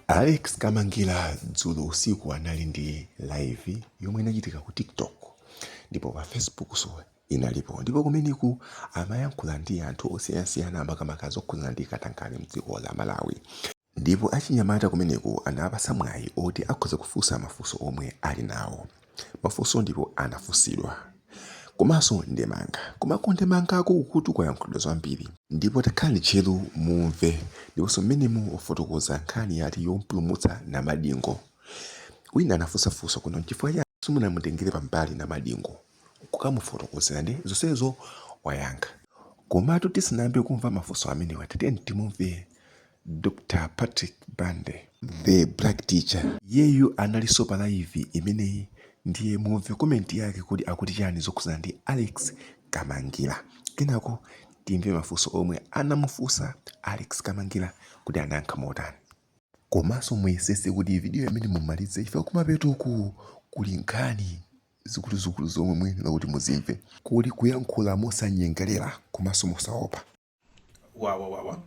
alex kamangira dzulo usiku anali ndi live yomwe inachitika ku tiktok ndipo pa facebook so inalipo ndipo kumeneko amayankhula ndi anthu osiyanasiyana makamaka zokhudzana ndi katangale mdziko la malawi Ndipo achinyamata kumeneko anawapatsa mwayi oti akhoza kufunsa mafunso omwe ali nawo. Mafunso ndipo anafunsidwa. Komanso ndemanga. Koma ku ndemangako kukutu kwayankhulidwa zambiri. Ndipo takhalani tcheru mumve. Ndiponso mmenemo wafotokoza nkhani ya ati yomupulumutsa Namadingo. Wina anafunsa funso kunena, n'chifukwa chani simunamutengere pambali Namadingo? kukamufotokozera ndiye zonsezo wayankha. Komatu tisanayambe kumva mafunso amenewa tatiyeni timumve Dr Patrick Bande, the black teacher, iyeyu analinso pa live imeneyi ndiye mumve comment yake kodi akuti chiyani zokhudzana ndi Alex Kamangira kenako timve mafunso omwe anamufunsa Alex Kamangira kuti anayankha motani. Komanso muyesetse kuti video imeneyi muimalize chifukwa kumapeto uku kuli nkhani. zikuluzikulu zomwe muyenera kuti muzimve. kuli kuyankhula mosanyengerera komanso mosaopa. wawawawa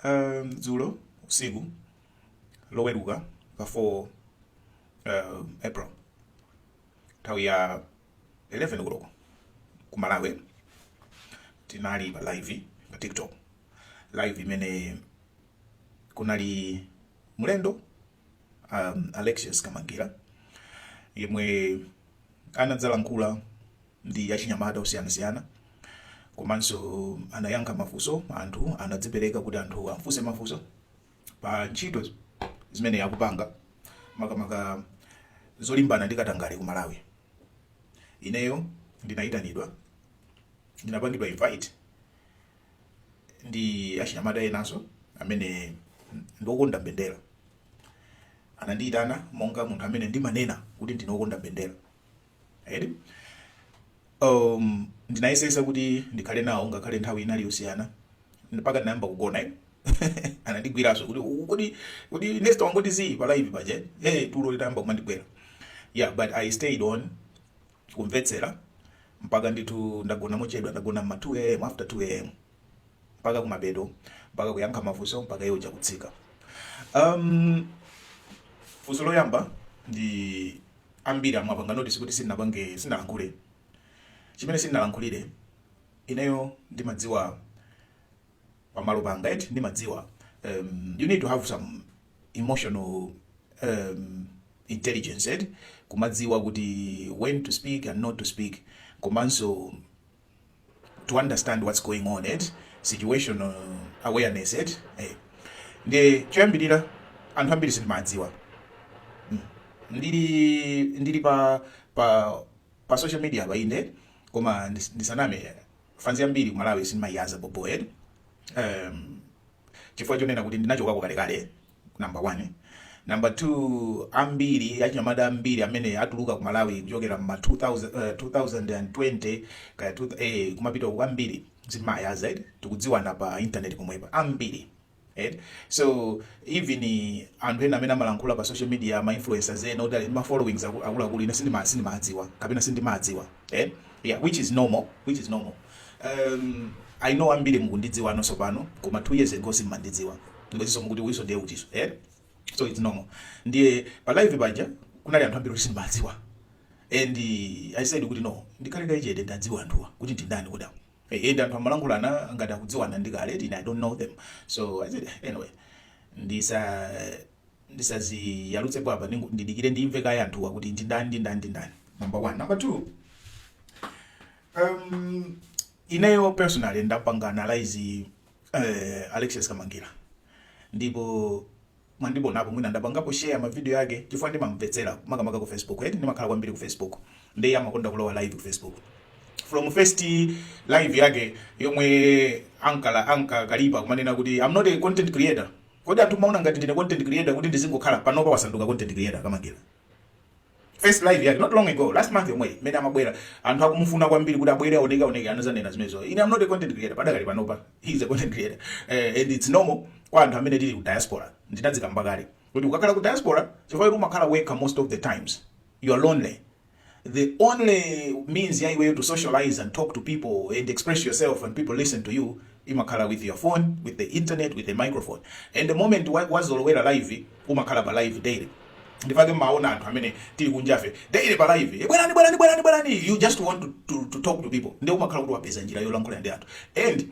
um, dzulo usiku loweruka pa 4 um, april nthawi ya 11 koloko ku malawi tinali pa live pa tiktok live imene kunali mlendo a Alexious Kamangira yemwe anadzalankhula ndi achinyamata osiyanasiyana komanso anayankha mafunso anthu anadzipereka kuti anthu amfunse mafunso pa ntchito zimene akupanga makamaka zolimbana ndi katangale ku Malawi. Ineyo ndinayitanidwa ndinapangidwa invite ndi achinyamata enanso amene ndi okonda mbendera. Anandiyitana monga munthu amene ndimanena kuti ndine wokonda mbendera. Eti? Um, ndinayesetsa kuti ndikhale nawo ngakhale nthawi inali yosiyana mpaka ndinayamba kugona ine anandigwiranso kuti "U- kodi kodi next wangoti zii pa live paja eh tulo litayamba kumandigwera yeah but i stayed on kumvetsera mpaka ndithu ndagona mochedwa ndagona mma 2am after 2am mpaka kumapeto mpaka kuyankha mafunso mpaka iye uja kutsika um, funso loyamba anthu ambiri mwapanga notice kuti sindinapange sindinalankhule chimene sindinalankhulire ineyo ndimadziwa malo panga eti ndimadziwa um, you need to have some emotional um, intelligence eti kumadziwa kuti when to speak and not to speak komanso to understand what's going on eti situational awareness eti eh. ndiye choyambirira anthu ambiri sitimadziwa mm. ndili ndili pa pa pa social media pa ine koma ndis- ndisaname fans yambiri ku malawi sindimayiyaza bhobho eti um, chifukwa chonena kuti ndinachokako kalekale number one number two ambiri achinyamata ambiri amene atuluka ku malawi kuchokera mma 2000, eh, 2020 kaya 2000, eh, kumapita uku ambiri sindimayaza eti tikudziwana pa intaneti pomwepa ambiri eti so even anthu ena amene amalankhula pa social media ma influencers ena oti ali ndi ma followings aku- akuluakulu ine sindima- sindimadziwa kapena sindimadziwa eh? yeah, which is normal which is normal um, i know ambiri mukundidziwa anonso pano koma two years ago simmandidziwa ndikoziso mukuti uyiso ndiye utiso eh? so it's normal ndiye pa live paja kunali anthu ambiri oti sindimadziwa and uh, i said kuti no ndikhale kaye chete ndiwadziwe anthuwa kuti ndindani kudawo Ehe ndi anthu amalankhulana ngati akudziwana ndi kale ine I don't know them so I said anyway ndisa ndisadziyalutsepo apa ndingo- ndidikire ndimve kaye anthuwa kuti ndi ndani ndi ndani ndi ndani number one number two um, ineyo personally ndapanga analyze uh, Alexious Kamangila ndipo mwandionapo mwina ndapangapo share ma video ake chifukwa ndimamvetsera makamaka ku Facebook eti ndimakhala kwambiri ku Facebook ndiye amakonda kulowa live ku Facebook from first live yake yomwe ankala ankakalipa kumanena kuti I'm not a content creator kodi anthu mmaona ngati ndine content creator kuti ndizingokhala panopa wasanduka content creator Kamangila first live yake not long ago last month yomweyi mmene amabwera anthu akumufuna kwambiri kuti abwere aoneke aoneke anazanena zimenezo ine am not a content creator padakali panopa he is a content creator uh, and it's normal kwa anthu amene tili ku diaspora ndinazikamba kale kuti ukakhala ku diaspora chifukwa choti umakhala wekha most of the times you are lonely the only means ya iweyo to socialize and talk to people and express yourself and people listen to you imakhala with your phone with the internet with the microphone and the moment wazolowera wa live umakhala pa live daily n'chifukwa chake mmaona anthu amene tili kunjafe daily pa live eh, bwerani bwerani bwerani bwerani you just want to, to, to talk to people ndiye umakhala kuti wapeza njira yolankhula ndi anthu and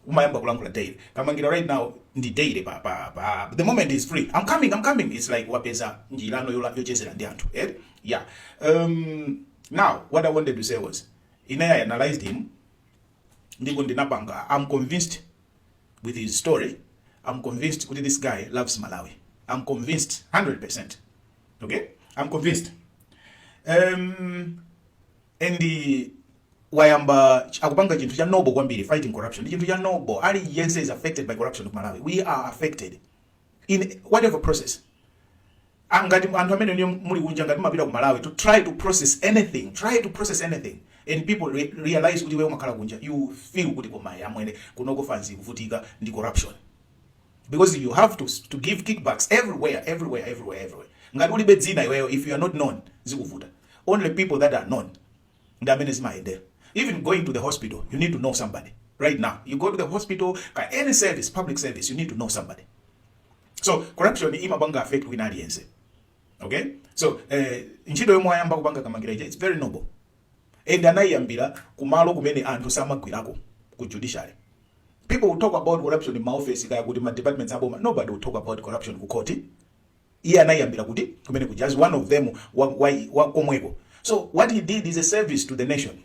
umayamba kulankhula daily kamangila right now ndi daily pa pa pa the moment he's free i'm coming i'm coming it's like wapeza njira no yola- yochezera ndi anthu eh yeah um now what i wanted to say was ine i analyzed him ndipo ndinapanga i'm convinced with his story i'm convinced kuti this guy loves malawi i'm convinced 100% okay i'm convinced um and wayamba akupanga chinthu cha noble kwambiri fighting corruption ndi chinthu cha noble ali yense is affected by corruption ku malawi we are affected in whatever process Ah, ngati anthu amene inuyo muli kunja ngati mumapita ku malawi to try to process anything try to process anything and people re realize kuti wewe umakhala kunja you feel kuti koma amwene kunoko fanzi ikuvutika ndi corruption because you have to to give kickbacks everywhere everywhere everywhere everywhere ngati ulibe dzina iweyo if you are not known zikuvuta only people that are known ndi amene zimayendera even going to the hospital you need to know somebody right now you go to the hospital ka any service public service you need to know somebody so corruption imapanga affect wina aliyense okay so eh, ntchito yomwe ayamba kupanga kamangira ija it's very noble and anayiyambira ku malo kumene anthu samagwirako ku judiciary. People will talk about corruption mma ofesi kaya kuti ma departments a boma nobody will talk about corruption ku court. Iye anayiyambira kuti komwe kuja as one of them wa, wa, wa komweko. So what he did is a service to the nation.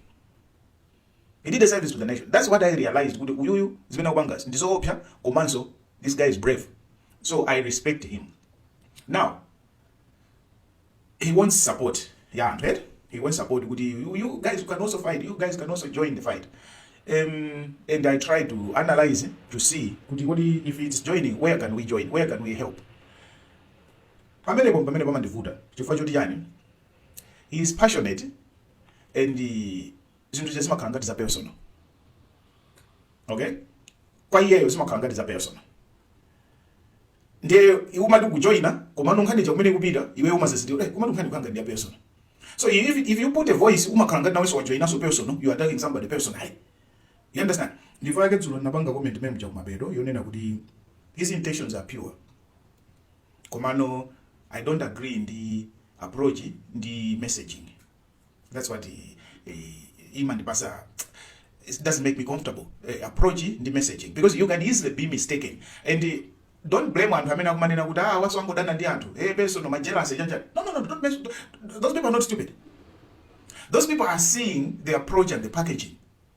He did a service to the nation. That's what I realized kuti uyuyu zimene akupangazi ndi zoopsa komanso this guy is brave. So I respect him. Now He wants support ya anthu eti he wants support kuti you, you guys you can also fight you guys can also join the fight um, and I try to analyze to see kuti kodi if it's joining where can we join where can we help pamenepo pamene pamandivuta chifukwa choti chani he is passionate and uh, zinthu zimakhala ngati za personal okay kwa iyeyo zimakhala ngati za personal ndiye umati kujoina komano nkhani ya kumene kupita iwe umazazindikira eh komano nkhani yake ndi ya personal so if, if you put a voice umakhala ngati nawenso wajoina so personal you are attacking somebody personally you understand nchifukwa chake dzulo ndinapanga comment mwina cha kumapeto yonena kuti his intentions are pure komano i don't agree ndi approach ndi messaging that's what i- i- imandipasa it doesn't make me comfortable uh, approach ndi messaging because you can easily be mistaken and uh, don't blame anthu amene akumanena kuti ah waso angodana ndi anthu hey personal my jealousy chanja no no no don't mess, those people are not stupid those people are seeing the approach and the packaging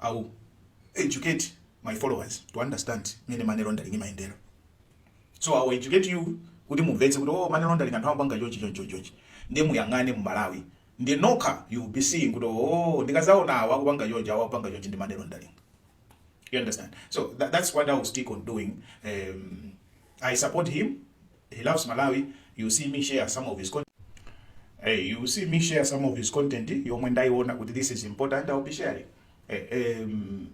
I will educate my followers to understand mmene money laundering imayendera. So I will educate you kuti mumvetse kuti oh, money laundering anthu amapanga chonchi chonchi chonchi. Ndiye muyang'ane mu Malawi. Ndiye nokha you will be seeing kuti oh, ndikazaona awa akupanga chonchi awa akupanga chonchi ndi money laundering. You understand? So that, that's what I will stick on doing. Um, I support him. He loves Malawi, you see me share some of his content. Hey, you see me share some of his content yomwe ndaiona kuti this is important I'll be sharing. Hey, um,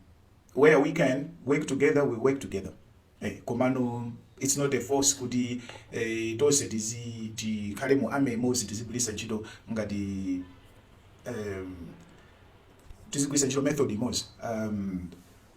where we can work together we work together. Hey, komano it's not a force kuti eh, tonse tizi tikhale mu army imodzi tizigwiritsa ntchito ngati um, tizigwiritsa ntchito method imodzi um,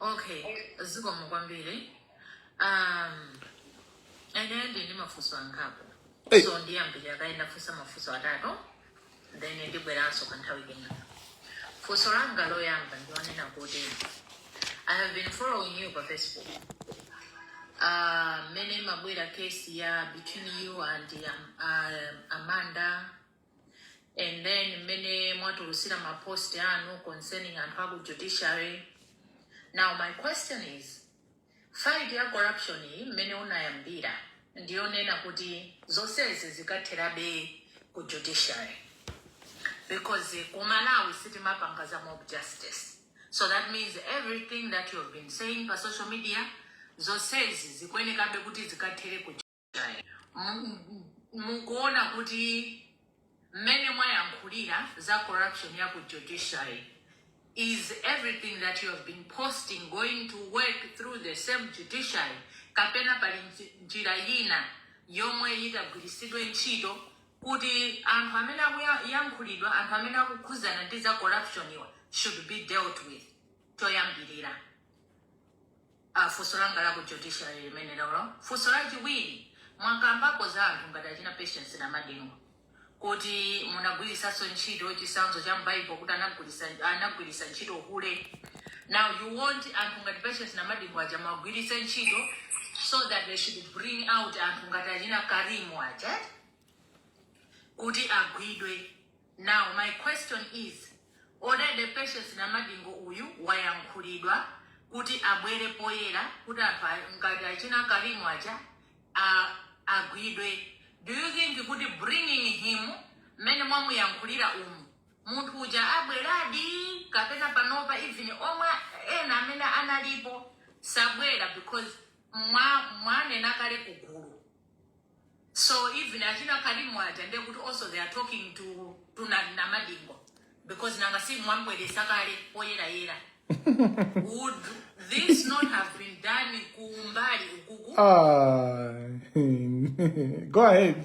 Okay, zikomo kwambiri. Um, ineyo ndili ndi mafunso angapo. Hey. So ndiyambira kaye ndifunsa mafunso atatu. Then ndibweranso kwa nthawi ina. Funso langa loyamba ndi lonena kuti I have been following you pa Facebook. Uh, mmene imabwera case ya between you and um, uh, Amanda and then mmene mwatulusira ma post anu concerning anthu aku judiciary now my question is fight ya corruption iyi mmene unayambira ndiyonena kuti zonsezi zikatherabe ku judiciary because eh, ku malawi sitimapanga za mob justice so that means everything that you have been saying pa social media zonsezi zikuyenekabe kuti zikathere ku mukuona kuti mmene mwayankhulira za corruption ya ku judiciary is everything that you have been posting going to work through the same judiciary kapena pali nji- njira yina yomwe itagwiritsidwe ntchito kuti anthu amene akuyankhulidwa anthu amene akukhudzana ndi za corruption iwa should be dealt with choyambirira a Funso langa la ku judiciary limenelolo. Funso lachiwiri, mwakambapo za anthu ngati achina Patience Namadingo kuti munagwiritsanso ntchito chitsanzo cha m'Bible kuti anagwiritsa ntchito hule. Now you want anthu ngati Patience Namadingo aja muwagwiritse ntchito so that they should bring out anthu ngati achina Karim aja kuti agwidwe. Now my question is already Patience Namadingo uyu wayankhulidwa kuti abwere poyera kuti anthu a- ngati achina Karim aja a, agwidwe. Do you think kuti bringing him mmene mwamuyankhulira umu munthu uja abweradi kapena panopa even omwe ena amene analipo sabwera because mwa mwanena kale kugulu So even achina Karim aja ndiye kuti also they are talking to Namadingo because nanga si mwamubweretsa kale poyerayera. Would this not have been done kumbali ukuku? Ah, go ahead.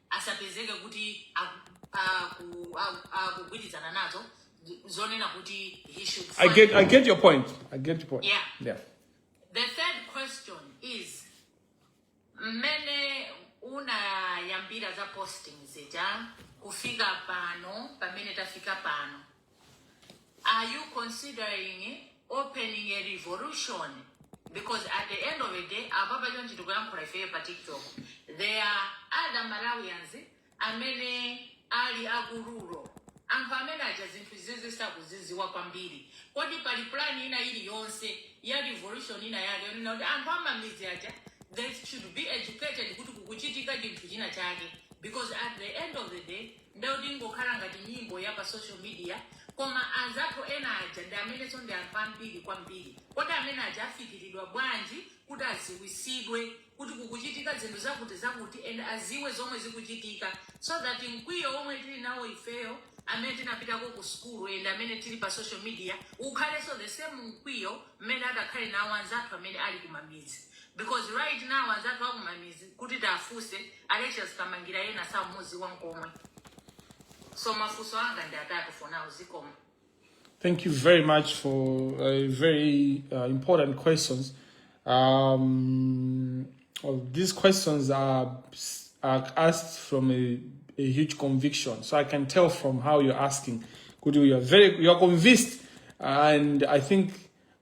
asapezeke kuti akugwirizana nazo zonena kuti he should I get, I get your point. I get your point. Yeah. yeah. The third question is mmene unayambira za posting zija kufika pano pamene tafika pano Are you considering opening a revolution? Because at the end of the day, apapa chonchi tikuyankhula ifeyo pa TikTok. There are other Malawians amene ali kuruwo. Anthu amene aja zinthu izizi sakuziziwa kwambiri. Kodi pali plan ina iliyonse ya revolution ina yake yonena kuti anthu a m'midzi aja they should be educated kuti kukuchitika chinthu china chake. Because at the end of the day, Nde yoti ingokhala ngati nyimbo ya pa social media koma anzathu ena aja ndi amenenso ndi anthu ambiri kwambiri. Kodi amene aja afikiridwa bwanji kuti aziwisidwe kuti kukuchitika zinthu zakuti zakuti and aziwe zomwe zikuchitika so that mkwiyo womwe tili nawo ifeyo amene tinapitako ku sukulu and amene tili pa social media ukhalenso the same mkwiyo mmene atakhale nawo anzathu amene ali kumamidzi. Because right now azathu akumamizi kuti tiafuse Alexious Kamangila ena saumuziwa nkomwe. So mafuso anga ndi atatu for now zikomo. Thank you very much for a very uh, important questions. Um, well, these questions are, are asked from a, a, huge conviction, so I can tell from how you're asking. Could you? You're very, you're convinced, and I think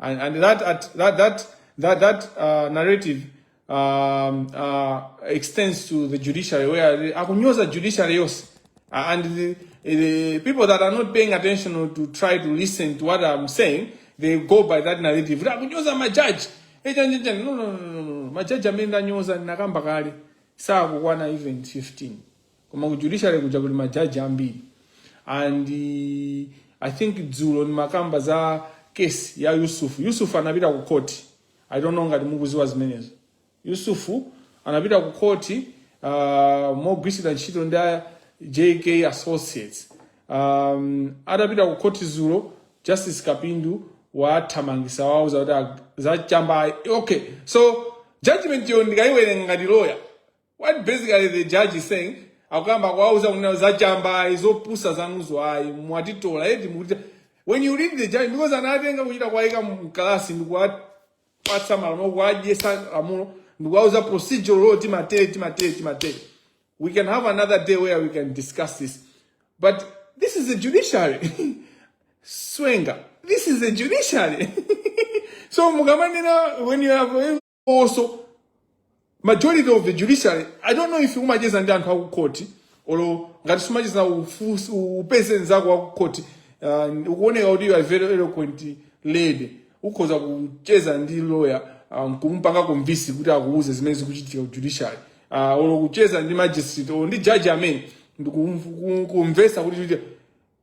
And, and that, at, that, that, that, that uh, narrative um, uh, extends to the judiciary where the akunyoza judiciary yonse uh, and the, the people that are not paying attention or to try to listen to what I'm saying they go by that narrative akunyoza majaji eh, no, no, no, no, no. majaji amene ndanyoza ndinakamba kale sakukwana even 15 koma ku judiciary kuja kuli majaji ambiri and uh, i think dzulo nimakamba za kesi ya yusufu yusufu anapita ku koti i don't know ngati mukuziwa zimenezo yusufu anapita ku koti uh, mogwiritsidwa ntchito ndi a jk associates um, atapita ku koti dzulo justice kapindu wathamangisa wawo zakuti ag- zachamba okay so judgment yo ndikayiwerenga ngati loya What basically the judge is saying akuyamba kuwauza kunena za chamba ayi zopusa zanuzo ayi mwatitola eti mukuti when you read the judgment because anatenga kuchita kuwayika mkalasi ndikuwapatsa malamulo kuwadyesa lamulo ndikuwauza procedural law timatere timatere timatere we can have another day where we can discuss this but this is the judiciary swenga this is the judiciary so mukamanena when you have also majority of the judiciary i don't know if umacheza ndi anthu akukhoti olo ngati sumacheza ufusi- upeze nzako wakukhoti uh, ukuoneka kuti you are very eloquent lady ukhoza kucheza ndi lawyer uh, nkumpanga convince kuti akuuze zimene zikuchitika ku judiciary uh, olo kucheza ndi magistrate olo ndi judge amene ndikumvesa kuti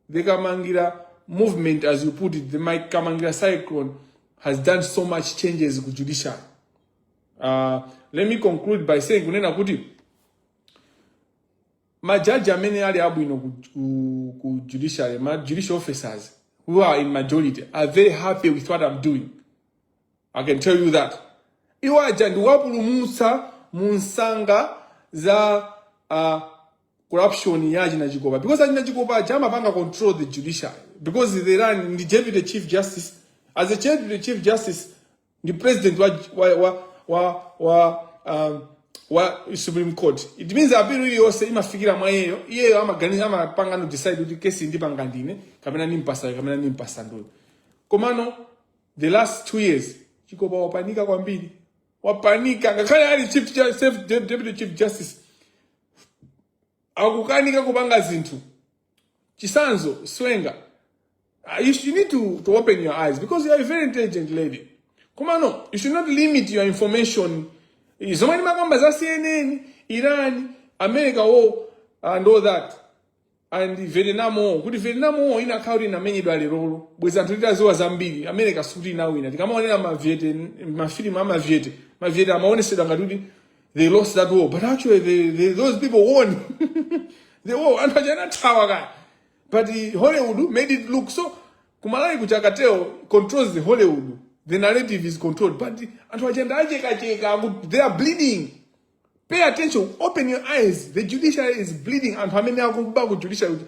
The Kamangira movement, as you put it, the Mike Kamangira cyclone has done so much changes ku judiciary. Uh, let me conclude by saying kunena kuti majaji amene ali abwino ku, ku, ku judiciary, ma judicial officers who are in majority are very happy with what I'm doing. I can tell you that. Iwo aja ndiwapulumutsa mu nsanga za uh, corruption ya achina chikopa because achina chikopa aja amapanga control the judiciary because they run ndi deputy chief justice as a deputy chief justice ndi president wa wa wa wa, wa um, wa supreme court it means appeal iliyonse imafikira mwa iyeyo iyeyo amaganiza amapangano decide kuti kesi ndipanga ndine kapena ndimpasa kapena ndimpasa nduyo komano the last two years chikopa wapanika kwambiri wapanika ngakhale ali chief ju- self- deputy chief justice akukanika kupanga zinthu chisanzo swenga ah, you should need to, to open your eyes because you are a very intelligent lady komano you should not limit your information zomwe ndimakamba za cnn iran america war and all that and Vietnam War kuti Vietnam War inakhala kuti inamenyedwa lerolo bwezi anthu titaziwa zambiri America sikuti inawina tikamaonera maviete mafilimu amaviete maviete amaonesedwa ngati kuti they lost that war but actually they, they, those people won the war anthu aja anathawa kaya but eh, Hollywood made it look so kumalawi kuchakateo controls the Hollywood the narrative is controlled but anthu aja ndawachekacheka they are bleeding Pay attention, open your eyes. The judiciary is bleeding. Anthu amene akuba ku judiciary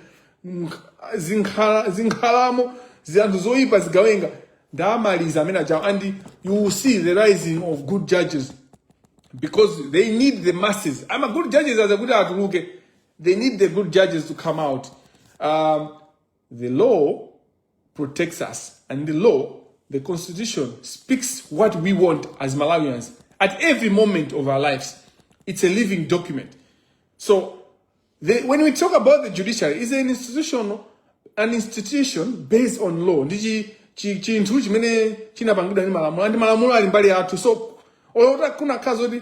zinkhala zinkhalamo zanthu zoyipa zigawenga ndamaliza amene achawo and you will see the rising of good judges because they need the masses. I'm a good judges as a good atuluke. They need the good judges to come out. Um, The law protects us, and the law, the constitution, speaks what we want as Malawians at every moment of our lives. It's a living document. So the, when we talk about the judiciary, it's an institution, an institution based on law. Ndichi chinthu chimene chinapangidwa ndi malamulo and malamulo ali mbali yathu so olo utakana khazo kuti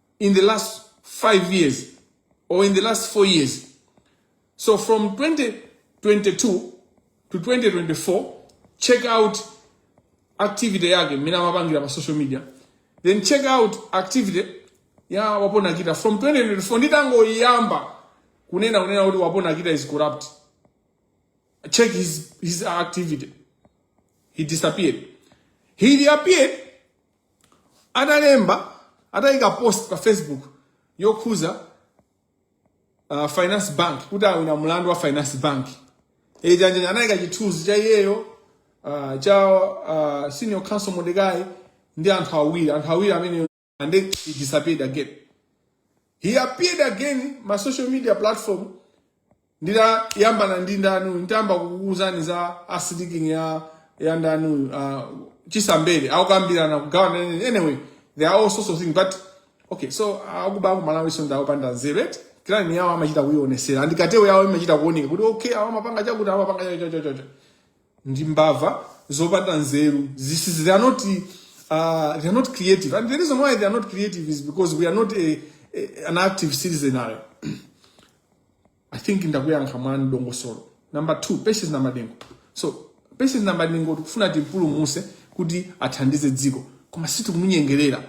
in the last 5 years or in the last 4 years. So from 2022 to 2024, check out activity yake mmene amapangira pa social media then check out activity ya wapona kita from 2024 nditangoyamba kunena kunena kuti wapona kita is corrupt check his, his activity he disappeared he reappeared atalemba atayika post pa facebook yokhuza uh, finance bank kuti awina mlandu wa finance bank Janjanja anayika chithunzi cha iyeyo uh, cha uh, senior counsel Modecai ndi anthu awiri anthu awiri amene and then he disappeared again he appeared again ma social media platform nditayambana ndi ndani uyu nditayamba kukuwuzani za asitiking ya ya ndani uyu uh, chisambere akukambirana kugawana nene anyway there are all sorts of things but okay so akuba akumalawi so ndakupanda nzeru eti clan yawo amachita kuionesera andikatewo yawo imachita kuoneka kuti okay awo amapanga chakuti awo amapanga chachachacha ndi mbava zopanda nzeru Zisi- they are not uh, they are not creative and the reason why they are not creative is because we are not a, a, an active citizenry i think ndakuyankha mwa dongosolo number two patience namadingo so patience namadingo tikufuna timpulumuse kuti athandize dziko koma sitikumunyengerera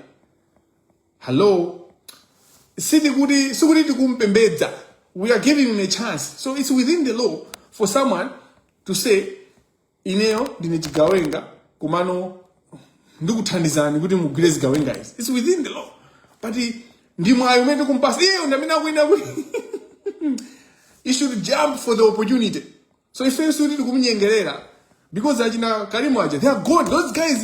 hello siti kuti sikuti tikumpembedza we are giving him a chance so it's within the law for someone to say ineyo ndine chigawenga komano ndikuthandizani kuti mugwire zigawenga izi its within the law but ndi mwayi umene tikumpatsa iyeyo ndamene akuyenera kuti he should jump for the opportunity so ife sikuti tikumunyengerera because achina kalimu aja they are gone those guys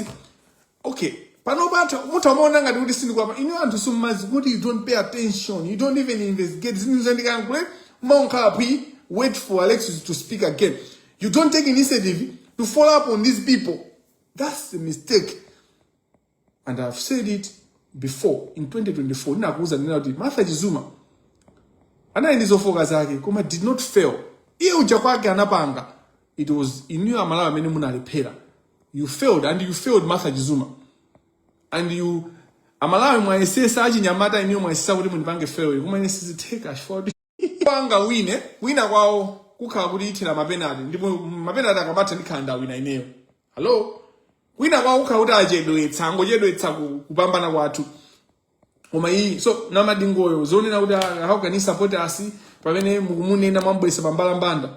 okay panopa atha mutha umaona ngati kuti sindikwapa inu anthu simudziwa kuti you don't pay attention you don't even investigate zinthu zandikankule mumangokhala phee wait for alexis to speak again you don't take initiative to follow up on these people that's the mistake and i've said it before in 2024 ndinakuuza ndinena kuti martha chizuma anali ndi zofooka zake koma did not fail iye uja kwake anapanga it was inuyo amalawi amene munalephera you failed and you failed martha chizuma and you amalawi mwayesetsa achinyamata inuyo mwayesetsa kuti mundipange fail koma ine sizitheka chifukwa kuti panga wina wina kwawo kukhala kuti ithera mapenati ndipo mapenati akamatha ndikhala ndawina ineyo hallo wina kwawo kukhala kuti achedwetsa angochedwetsa ku- kupambana kwathu koma iyi so namadingoyo zonena kuti ah, how can he support us pamene mukumunena mwabweretsa pambalambanda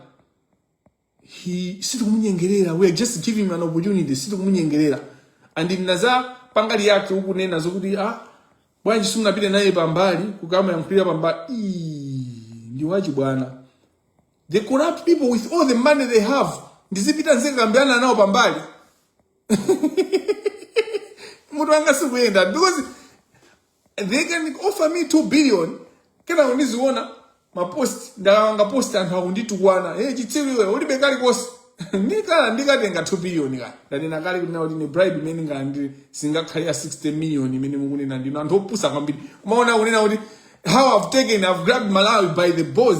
he sitikumunyengerera we are just giving him an opportunity sitikumunyengerera and ndinadza pangozi yake ukunena zokuti ah bwanji simunapite naye pambali kukamuyankhulira pambali Ii, ndi zachibwana the corrupt people with all the money they have ndizipita ndizikakambirana nawo pambali mutu wanga sukuyenda because and they can offer me 2 billion kenako ndiziona mapost ndapanga post anthu akunditukwana hey chitsiru iwe ulibe kalikonse ndikhala ndikatenga 2 billion ka ndanena kale kuti nawo ndine bribe imene ndingalandire singakhale ya 60 million imene mukunena ndinu anthu opusa kwambiri kumaona kunena kuti how i've taken i've grabbed malawi by the balls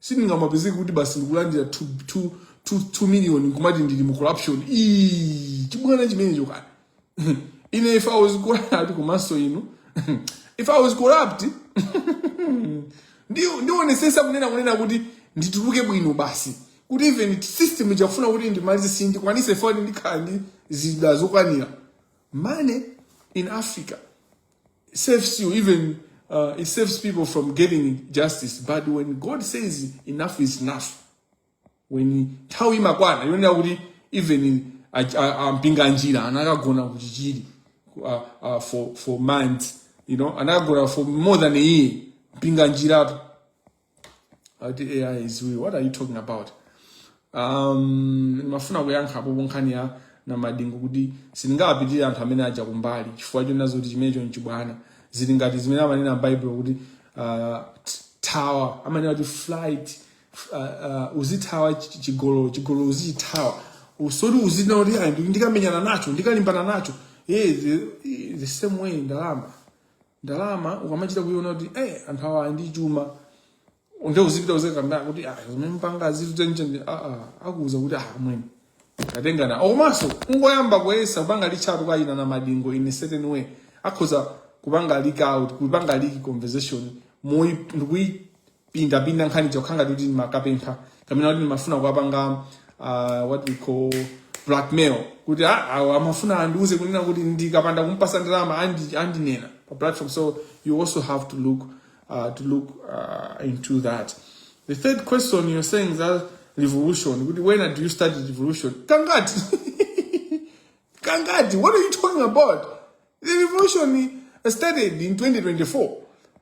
sindingamapezeke kuti basi ndikulandira 2 million nkumati ndili mu corruption Ii, chibwana chimenecho kani ine if i was corrupt komanso inu if i was corrupt ndi- ndionetsetsa kunena kunena kuti ndituluke bwino basi kuti even system ikafuna kuti indimalize isandikwanitse ifike ndikhala ndi zida zokwanira money in africa It saves you even uh, it saves people from getting justice. But when God says enough is enough, when nthawi imakwana yonena kuti even ampinga njira anakagona kuchichiri uh, uh, for, for months you know anakagona for more than a year mpinga njirapo ati ai iziwi what are you talking about um, ndimafuna kuyankhapo pankhani ya namadingo kuti sindingawapitire anthu amene aja kumbali chifukwa chonena zoti chimenecho nchibwana zili ngati zimene amanena m'baibulo kuti uh, t- thawa amanena kuti flight f- uh, uh, uzithawa chi- chigololo chigololo uzichithawa osati uzinena kuti "Ayi, ndi- ndikamenyana nacho ndikalimbana nacho Eh, the, the same way ndalama ndalama ukamachita kuiona kuti eh, anthu awa ndi chuma nde uzipita uzikakamba kuti ah, zimene mukupanga zitutenchende ah, ah, akuuza kuti ah, mwene atengana komanso ungoyamba kuyesa kupanga reach out kaya na Namadingo in a certain way akhoza kupanga leak out kupanga leak conversation nkuyi pindapinda nkhani nkukhala ngati kuti ndimakapempha kapena kuti ndimafuna kuwapanga uh, what we call blackmail kuti ah, awa amafuna andiuze kunena kuti ndikapanda kumpatsa ndalama andi- andinena pa platform so you also have to look uh, to look uh, into that the third question you're saying that revolution kuti when do you start the revolution kangati kangati what are you talking about The revolution started in 2024.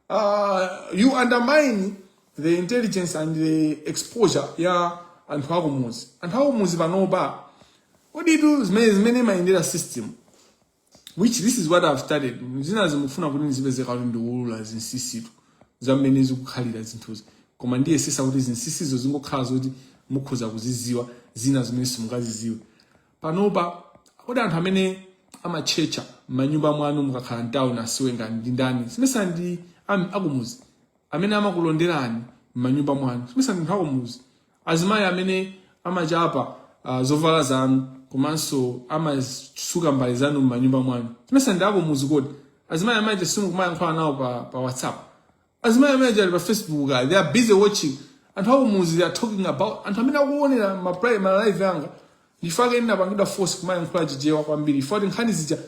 Uh, you undermine the intelligence and the exposure ya anthu akumuzi. Anthu akumuzi panopa. Kodi tu mmene mmene imayendera system which this is what I've started. Zina zimafuna kuti ndizipeze kuti ndiulula zinsisitu zamene zikukhalira zinthuzi. Koma ndiyesetsa kuti zinsisizo zizingokhala zoti mukhoza kuzidziwa zina zimene simungazidziwe. panopa kodi anthu amene amatchetcha m'manyumba mwanu mukakhala mtauni nthawi zonse ndi ndani simesa ndi am- akumuzi amene amakulonderani m'manyumba mwanu simesa ndi anthu akumuzi azimayi amene amachapa ah, zovala zanu komanso amasuka mbale zanu m'manyumba mwanu simesa ndi akumuzi kodi azimayi amene simumayankhula nawo pa, pa whatsapp Azimayi amene aja ali pa Facebook kaya they are busy watching anthu akumuzi they are talking about anthu amene akuonera ma pri- ma live anga ndife ake ndinapangidwa force kumayankhula chichewa kwambiri chifukwa choti nkhani zija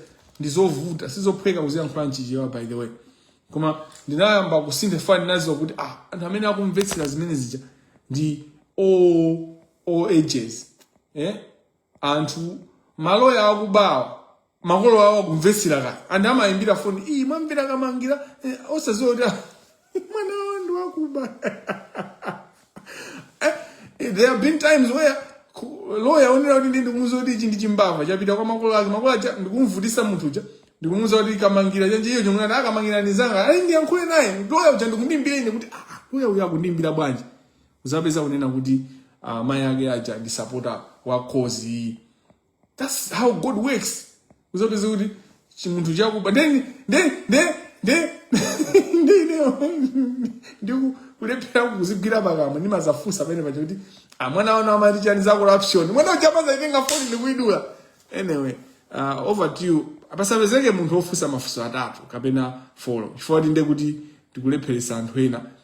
ndizovuta sizophweka kuziyankhula mchichewa by the way koma ndinayamba kusintha if ndinadziwa kuti ah anthu amene akumvetsera zimene zija ndi all, all ages eh? anthu maloya akubawa makolo awo akumvetsera ka and amayimbira foni iyi mwamvera kamangira eh, osaziwa kuti ah, mwana wanu akuba Eh, there have been times where ku- lawyer onera kuti ndindi kumuza kuti ichi ndi chimbava chapita kwa makolo ake makolo aja ndikumuvutitsa munthu uja ndikumuza kuti kamangira chani iyo chomwe nati akamangira ndizanga ayi ndiyankhule naye lawyer uja ndikundimbira ine kuti ah lawyer uyu akundimbira bwanji uzapeza kunena kuti uh, mai ake aja ndi sapota wa cause iyi thats how god works uzapeza kuti chimunthu chakuba then then then then ndineyo ndikulephera kuzigwira pakamwa ndimazafunsa penapake kuti amwana wanu amati chani za corruption mwana uja amazaitenga foni ndikuidula anyway uh, over to you apasapezeke munthu wofunsa mafunso atatu kapena folo chifukwa timve kuti tikulepheresa anthu ena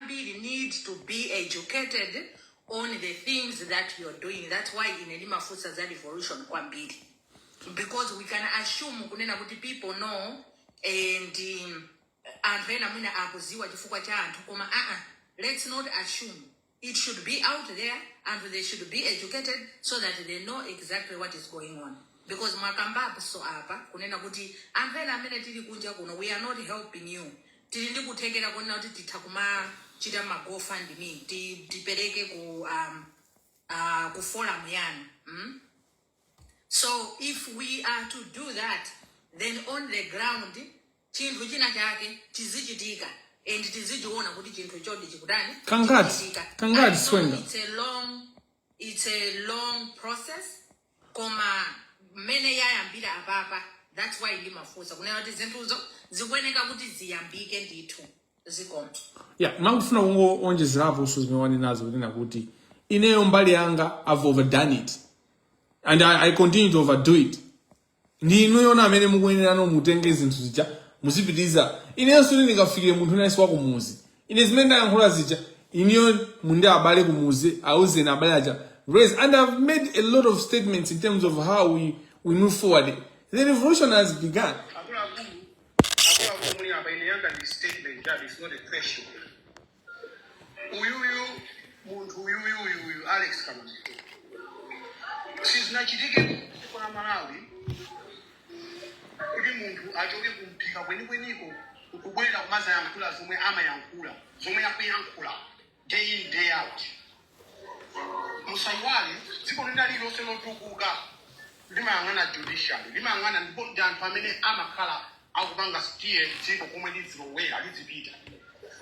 ambiri need to be educated on the things that you are doing that's why ine ndimafunsa za revolution kwambiri because we can assume kunena kuti people know and um, anthu ena mwina akuziwa chifukwa cha anthu koma uh -uh, let's not assume it should be out there and they should be educated so that they know exactly what is going on because mwakambaponso apa kunena kuti anthu ena amene tili kunja kuno we are not helping you tili ndi kuthekera kunena kuti titha kumachita ma go fund me ti tipereke ku um, uh, ku forum yanu mm? so if we are to do that then on the ground chinthu china chake chizichitika and tizichiona kuti chinthu choti chikutani Kangati, chikuchitika. kangati, I know Sizikuyenda. it's a long it's a long process koma mmene yayambira apapa that's why ndimafunsa kunena kuti zinthuzo zikuyeneka kuti ziyambike ndithu zikomo yeah mangofuna kungoonjezeraponso zimene wanenazo kunena kuti ineyo mbali yanga i've overdone it and I, i continue to overdo it ndi inuyona amene mukuyenerano mutenge zinthu zija muzipitiriza inenso ndi ndikafikire munthu nayenso wa kumuzi ine zimene ndayankhula zija inuyo muli ndi abale kumuzi auzeni abale aja raise and i've made a lot of statements in terms of how we, we move forward the revolution has begun akuluakulu akuluakulu muli apa ine yanga ndi statement that is not a question uyuyu munthu uyuyu uyuyu alex kamangira sizinachitike ku dziko la malawi kuti munthu achoke kumphika kwenikweniko nkubwera kumazayankhula zomwe amayankhula zomwe akuyankhula day in day out musaiwale dziko lina lililonse lotukuka limayang'ana judiciary limayang'ana ndipo ndi anthu amene amakhala akupanga steer dziko komwe lidzilowera lidzipita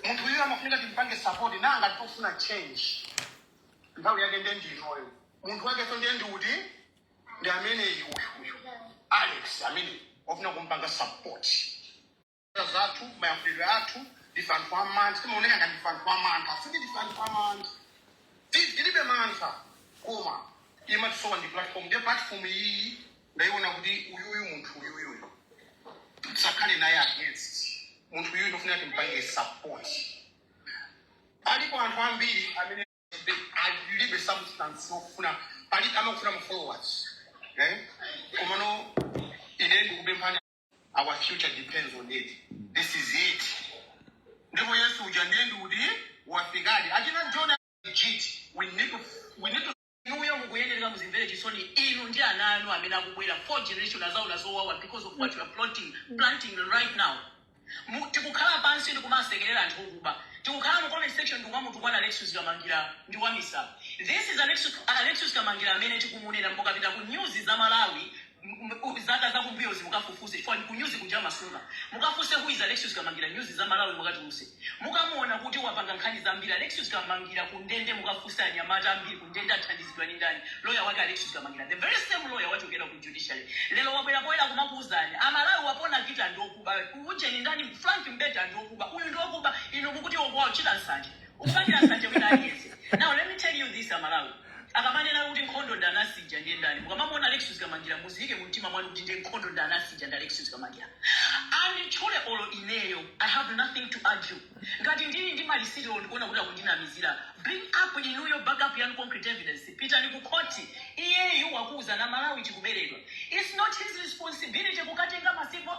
munthu uyu amafunika timpange support nanga tikufuna change nthawi yake ndiye ndi inoyo munthu wakenso ndiye ndi uti ndi ameneyi uyu uyu alex amene ofuna kumpanga support zochita zathu, mayankhulidwe athu, ndife anthu amantha. Timaoneka ngati ndife anthu amantha. Sikuti ndife anthu amantha. Ti- Tilibe mantha. Koma imatisowa ndi platform. Ndiye platform iyi ndaiona kuti uyuyu munthu uyuyuyu tisakhale naye against. Munthu uyuyu ndofuna timpange support. Alipo anthu ambiri amene alibe substance okufuna pali amakufuna ma followers. Eh? Komano ine ndikupemphani our future depends on it this is it ndipo yesu uja ndiye ndi kuti wafikadi achina john jit we need to we need to inuyo mukuyenereka muzimvere chisoni inu ndi ana anu amene akubwera fourth generation azaona zowawa because of what you are planting, planting right now Mu- tikukhala pansi ndikumasekerera anthu okuba tikukhala mu comment section ndikumamutukwana alexis kamangira ndi wamisala this is alexis, alexis kamangira amene tikumunena mukapita ku nyuzi za malawi M- m- u- zaka zakumbuyozi mukafufuze chifukwa ndi kunyuzi kuja amasunga mukafuse who is alexius kamangira nyuzi za malawi mukatuluse mukamuona kuti wapanga nkhani zambiri alexius kamangira kundende mukafuse anyamata ambiri kundende athandizidwa ndi ndani lawyer wake alexius kamangira the very same lawyer wachokera ku judiciary lero wabwera poyera kumakuuzani amalawi wapona Kita ndiokuba ujeni ndani frank mbeta ndiokuba uyu ndiokuba inu mukuti akuwachita nsanje akupangira nsanje wina aliyense now let me tell you this amalawi Akamanena kuti nkhondo ndi anansija ndiye ndani? Mukamamuona Alexious Kamangira muziike mumtima mwanu kuti ndiye nkhondo ndi anansija ndi Alexious Kamangira. Anditchule olo ineyo I have nothing to argue. Ngati ndili ndi malisiti olo ndikuona kuti akundinamizira bring up inuyo back up yanu concrete evidence. Pitani ku khoti. Iyeyu wakuuzani a Malawi tikuberedwa. It's not his responsibility kukatenga ma civil.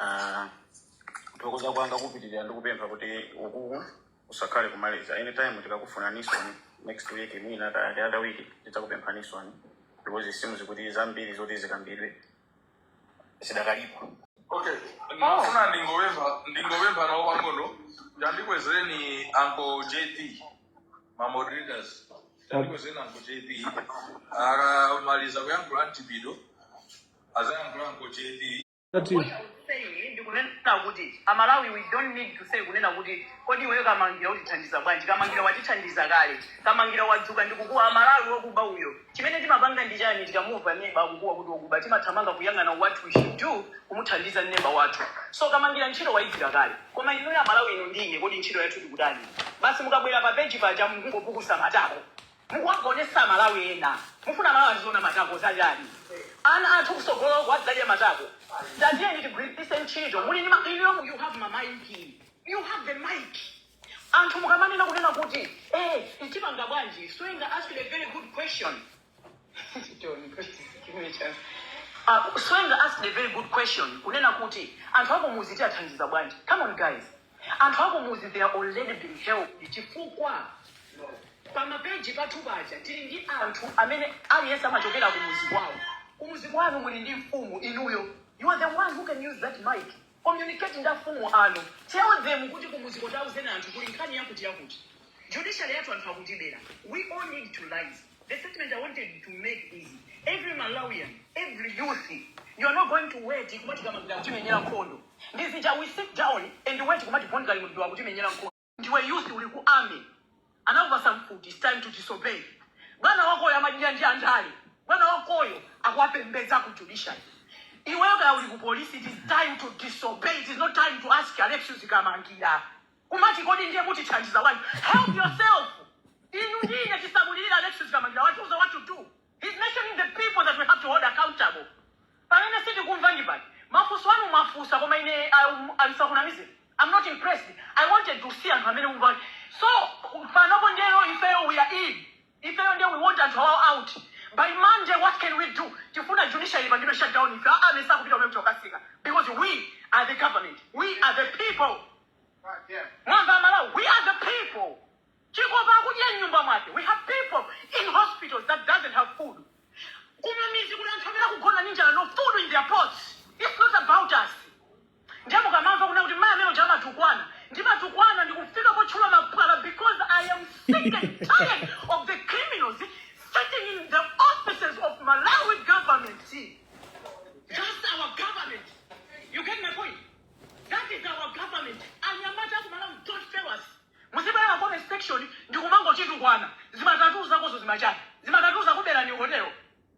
Ah, kuthokoza kwanga kupitirira ndi kupempha kuti ukuku usakhale komaliza anytime tikakufunaninso next week mwina kaya ndi other week tidzakupemphaninso because it seems kuti zambiri zoti zikambidwe zidakalipo okay ndingofuna ndingopempha ndingopempha nawo pang'ono tandikwezereni anko jp ma moderators tandikwezereni anko jp akamaliza kuyankhula mchipido azayankhula anko jp What I would say ndi kunena kuti amalawi we don't need to say kunena kuti kodi iweyo kamangira utithandiza bwanji kamangira watithandiza kale kamangira wadzuka ndi kukuwa amalawi wakuba uyo chimene timapanga ndi chani tikamumva neba akukuwa kuti wakuba timathamanga kuyang'ana what we should do kumuthandiza neba wathu so kamangira ntchito wayigwira kale koma inuyo amalawi inu ndi ine kodi ntchito yathu tikutani basi mukabwera pa peji paja mukungopukusa matako Mukuwaonesa amalawi ena mufuna amalawi aziona matako zachani ana athu kusogoloku adzadya matako tatiyeni tigwilise ntchito muli ndi ma inuyo you have ma mic you have the mic anthu mukamanena kunena kuti eh tipanga bwanji swenga asked a very good question Don't question, give me a chance. Uh, Swenga asked a very good question kunena kuti anthu akumuzi tiathandiza bwanji come on guys Anthu akumudzi they are already been helped chifukwa pa ma page pathu paja tili ndi anthu amene aliyense amachokera kumudzi kwawo. Kumudzi kwanu muli ndi mfumu inuyo. You are the one who can use that mic. Communicate ndi afumu anu. Tell them kuti kumudziko tauzeni anthu kuli nkhani yakuti yakuti. Judiciary yathu anthu akutibera. We all need to rise. The statement I wanted to make is every Malawian, every youth, you are not going to wait kumati Kamangira atimenyera nkhondo. The youth we sit down and wait kumati Bon Kalindo atimenyera nkhondo. Ndiwe youth uli ku army. Anakupasa mfuti, it's time to disobey. Bwana wakoyo amadya ndi andale. Bwana wakoyo akuwapembedza ku judiciary. Iweyo kaya uli ku police, it is time to disobey. It is not time to ask Alexius Kamangira. Kumati kodi ndiye mutithandiza bwanji? Help yourself. Inu ndi ine tisamulirire Alexis Kamangila watiuza what to do. He's mentioning the people that we have to hold accountable. Pamene sitikumva ndi pati. Mafunso anu mwafunsa koma ine um, ndisakunamizeni. I'm not impressed. I wanted to see anthu amene mumva. So panopo ndiye ifeyo we are in. Ifeyo nde we want anthu awawa out by monday what can we do tifuna judiciary ipangidwe shut down ife aa mesa akupita kumene kukatseka because we are the government we are the people mwamva amalawi we are the people chikopa akudya mnyumba mwake we have people in hospitals that doesn't have food kumamidzi kuli anthu amene akugona ninjala no food in their pots it's not about us Ndiye mukamamva kunena kuti mayi amene uja amatukwana, ndimatukwana ndikufika potchula mapwala because I am sick and tired of the criminals sitting in the offices of Malawi government. That's our government. You get my point? That is our government. Anyamata aku Malawi don't fail us. Muzibwera ma comment section ndikumangotitukwana. Zimatatu zakozo zimatani. Zimatatu zakubera ni hotelo.